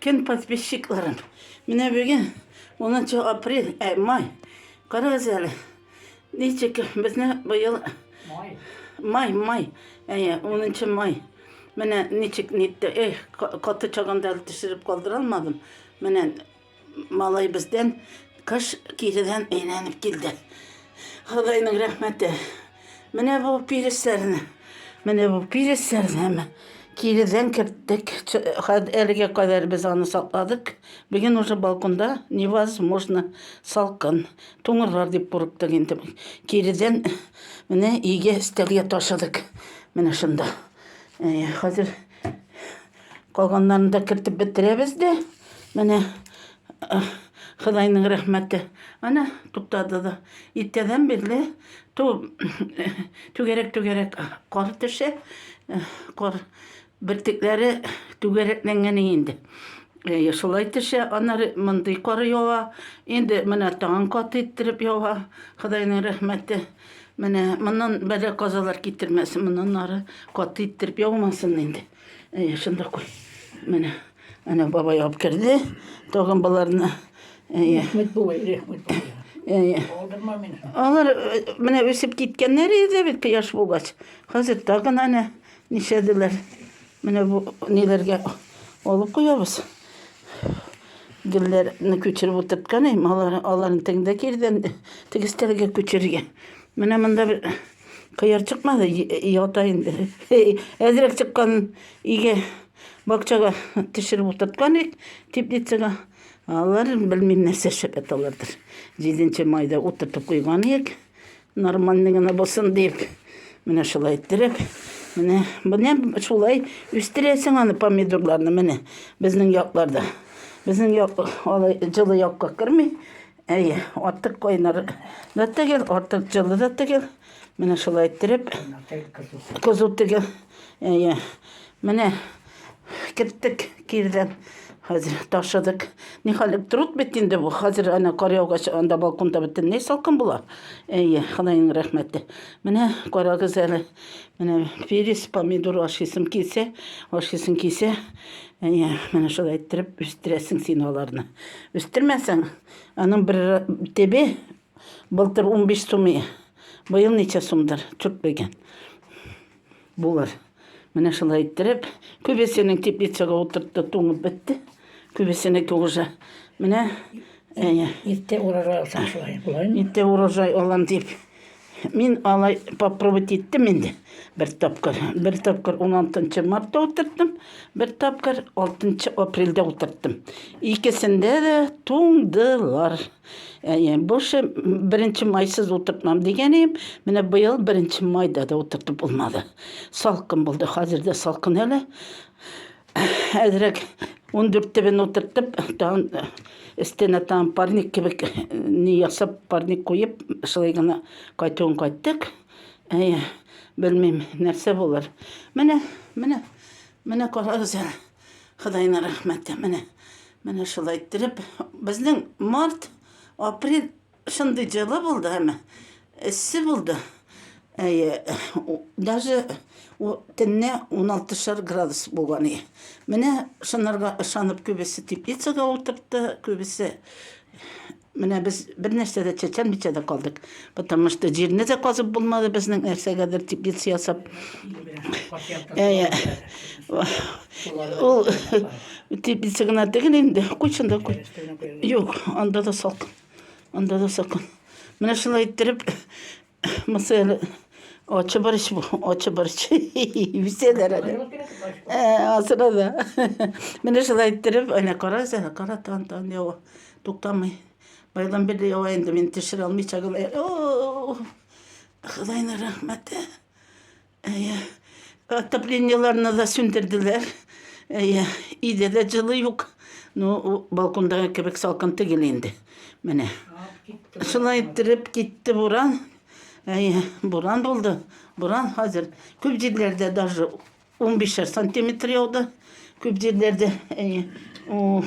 Кем подписчикларым? Менә бүген 10 апрель, ә май. Карагыз әле. Ничек безне быел май. Май, май. Әйе, 10 май. Менә ничек нитте. Эх, каты чагында төшереп калдыра алмадым. Менә Малай бездән кыш киредән әйләнеп килде. Ходайның рәхмәте. Менә бу пирисләрне, менә бу пирисләрне киредән керттек. Әлегә кадәр без аны сакладык. Бүген уже балконда невозможно салкын. Туңырлар дип курыктык инде. Киредән менә өйгә өстәлгә ташыдык. Менә шунда. Хәзер Калганнарын да кертеп бетерәбез дә. Менә Хыдайның рәхмәте. Ана туктады да. Иртәдән бирле ту түгәрәк-түгәрәк кар төшә. Кар бертекләре түгәрәкләнгән инде. Шулай төшә, аннары мондый кар ява. Инде менә тагын кат иттереп ява. Хыдайның рәхмәте. Менә моннан бәла казалар китермәсен, моннан ары кат иттереп яумасын инде. Әйе, шунда куй. Менә, әнә бабай алып керде. Тагын боларны. Әйе. Рәхмәт бабай, рәхмәт бабай. Әйе. Алдырма мине. Алар э, менә үсеп киткәннәр иде бит кояш булгач. Хәзер тагын әнә нишәделәр. Менә бу ниләргә алып куябыз. Гөлләрне күчереп утырткан идем, алар аларны тегендә кирдән тегестәргә күчерергә. Менә монда бер Кыяр чыкмады, ята инде. Әзрәк чыккан иге бакчага төшереп утырткан ик, теплицага. Алар белмим нәрсә эшләп яталардыр. 7 майда утыртып куйган ик, нормальный гына булсын дип. Менә шулай иттереп, менә менә шулай үстерәсең аны помидорларны менә безнең якларда. Безнең як алай җылы якка керми, Әйе, артык кайнар да түгел, артык җылы да түгел. Менә шулай иттереп, кызу түгел. Әйе. Менә керттек кирдән. Хәзер ташыдык. Нихәл труд бит инде бу. Хәзер ана кар яугач анда балконда бөтенләй салкын була. Әйе, Ходаең рәхмәте. Менә карагыз әле. Менә перец, помидор ашыйсым килсә, ашыйсым килсә, Әйе, менә шулай иттереп үстерәсең син аларны. Үстермәсәң, аның бер тебе былтыр 15 сум, быел ничә сумдыр, чүп белгән. Булыр. Менә шулай иттереп, күбесенең теплицага утыртты, туңып бетте. Күбесенеке уже. Менә, әйе. Иртә урожай алсаң шулай, булаймы? Иртә урожай алам дип. Мин алай попробовать иттем инде бер тапкыр. Бер тапкыр 16 мартта утырттым, бер тапкыр 6 апрельдә утырттым. Икесендә дә туңдылар. Әйе, больше беренче майсыз утыртмам дигән идем. Менә быел беренче майда да утыртып булмады. Салкын булды, хәзер дә салкын әле. әзрәк ундүрт төбен утыртып тагын өстенә тагын парник кебек не ясап парник куеп шулай гына кайтуын кайттык әйе белмим нәрсә булыр менә менә менә карагыз әле Худайның рәхмәте менә менә шулай иттереп безнең март апрель Шундый җылы булды һәм эссе булды. Әйе, даже төнне уналтышар градус булган иде. Менә шунарга ышанып күбесе теплицага утыртты, күбесе менә без бер нәрсә дә чәчәлмичә дә калдык. Потому что җирне дә казып булмады безнең нәрсәгәдер теплица ясап. Әйе. Ул теплица гына түгел инде, куй шунда куй. Юк, анда да салкын. Анда да сакын. Менә шулай иттереп, мысал очы барыш, очы барыш. Үсәләр әле. Ә, асыра да. Менә шулай иттереп, әнә караса, кара тан тан ява. Туктамый. Байдан бирле ява инде, мин төшерә алмыйча гына. О! Худайның рәхмәте. Әйе. Отоплениеларны да сүндерделәр. Әйе. Иде дә җылы юк. Ну, балкондагы кебек салкын түгел инде. Менә. Шулай иттереп китте буран. Әйе, буран булды. Буран хәзер күп җирләрдә даже 15 сантиметр яуды. Күп җирләрдә, әйе. Ух.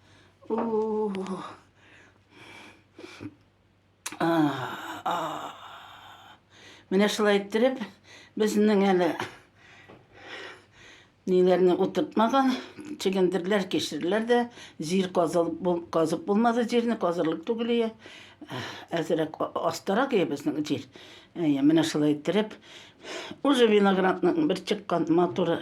Менә шулай иттереп, безнең әле ниләрне утыртмаган, чегендерләр, кешерләр дә, җир казып булмады, җирне казырлык түгел ие. Әзерәк астарак ие безнең җир. Әйе, менә шулай иттереп, уже виноградның бер чыккан матуры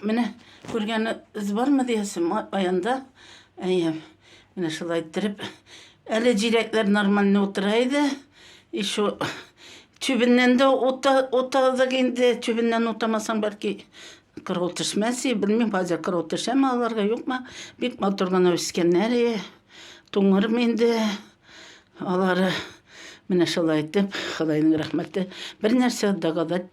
Менә күргәне үз бармы диясем аянда. Әйе. Менә шулай иттереп. Әле җиләкләр нормально утыра иде. Еще чүбеннән дә ута, утадык инде. Чүбеннән утамасаң, бәлки кырау төшмәс и, белмим, хәзер кырау төшәме аларга, юкмы. Бик матур гына үскәннәр и. Туңырмы инде алары. Менә шулай итеп, Ходаеның рәхмәте. Бер нәрсә дәгадәт